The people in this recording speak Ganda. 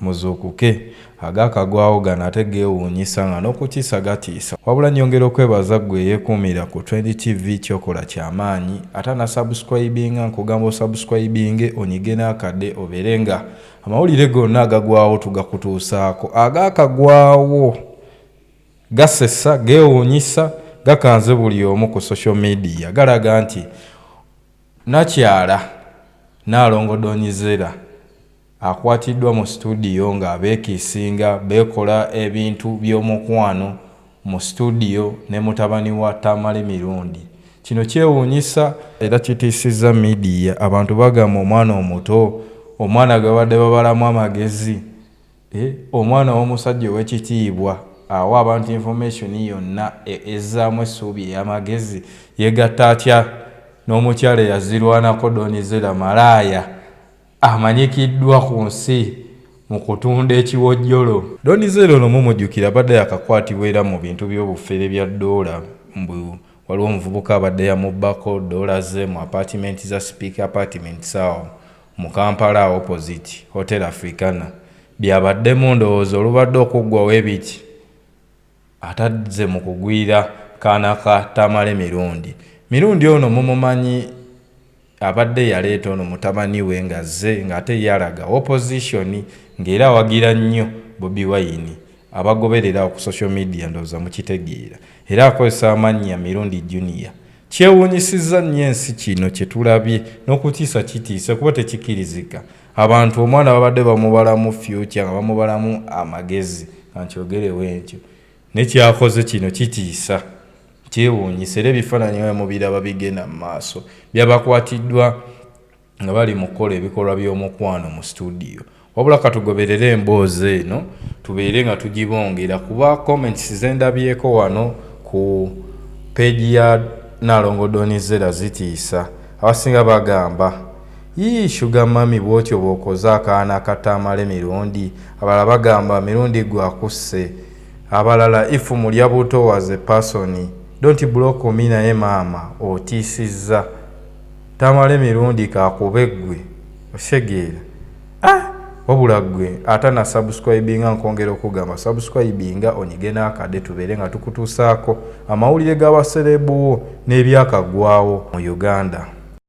Muzuukuke! Agaakagwawo gano ate geewuunyisa nga n'okutiisa gatiisa. Wabula nnyongera okwebaza ggwe eyeekuumira ku Trend TV ky'okola kya maanyi. Ate anasubscribinga nkugamba osubscribinge onyige n'akade obeere nga amawulire gonna agagwawo tugakutuusaako. Agaakagwawo gasesa, geewuunyisa, gakanze buli omu ku social media galaga nti Nakyala Nnaalongo Donizera, Akwatiddwa mu situdiyo ng'abeekiisinga beekola ebintu by'omukwano mu situdiyo ne mutabani wa Tamale Mirundi. Kino kyewuunyisa era kitiisizza midiya. Abantu bagamba omwana omuto, omwana gwe babadde babalamu amagezi, eeh, omwana ow'omusajja ow'ekitiibwa awa abantu information yonna ezzaamu essuubi ey'amagezi. Yeegatta atya n'omukyala eyazirwanako Don Zella malaaya? Amanyikiddwa ku nsi mu kutunda ekiwojjolo. Don Zella ono mumujjukira abadde yakakwatibwa era mu bintu by'obufere bya ddoola mbu waliwo omuvubuka abadde yamubbako ddoola ze mu apaatimenti za Speke Apartments awo mu Kampala opposite Hotel Africana. Byabaddemu ndowooza olubadde okuggwawo ebiki? atadze mu kugwira kaana ka Tamale Mirundi. Mirundi ono mumumanyi abadde yaleeta ono mutabani we ng'azze ng'ate ye alaga wopozisoni ng'era awagira nnyo Bobi Wine. Abagoberera awo ku social media ndowooza mukitegeera. Era akozesa amannya Mirundi Junior. Kyewuunyisizza nnyo ensi kino kye tulabye n'okutiisa kitiise kuba tekikirizika. Abantu omwana babadde bamubalamu future nga bamubalamu amagezi kankyogerewo entyo nekyakoze kino kitiisa kyewuunyisa era ebifaananyi nga mubiraba bigenda mu maaso byabakwatiddwa nga bali mu kukola ebikolwa by'omukwano mu situdiyo wabula katugoberere emboozi eno tubeere nga tugibongera kuba comments zendabyeko wano ku peegi ya nalongo donizera zitiisa abasinga bagamba Yii sugar mummy bwotyo bwokoza akaana akato amale mirundi abalala bagamba mirundi gwe akusse abalala if mulya buto was a person don't block me naye maama otiisizza tamale mirundi kakube gwe okitegeera ahh wabula gwe atana subscribinga nkongera okugamba subscribinga onyige nakade tubeere nga tukutuusaako amawulire gaba serebu wo nebyakagwawo mu Uganda.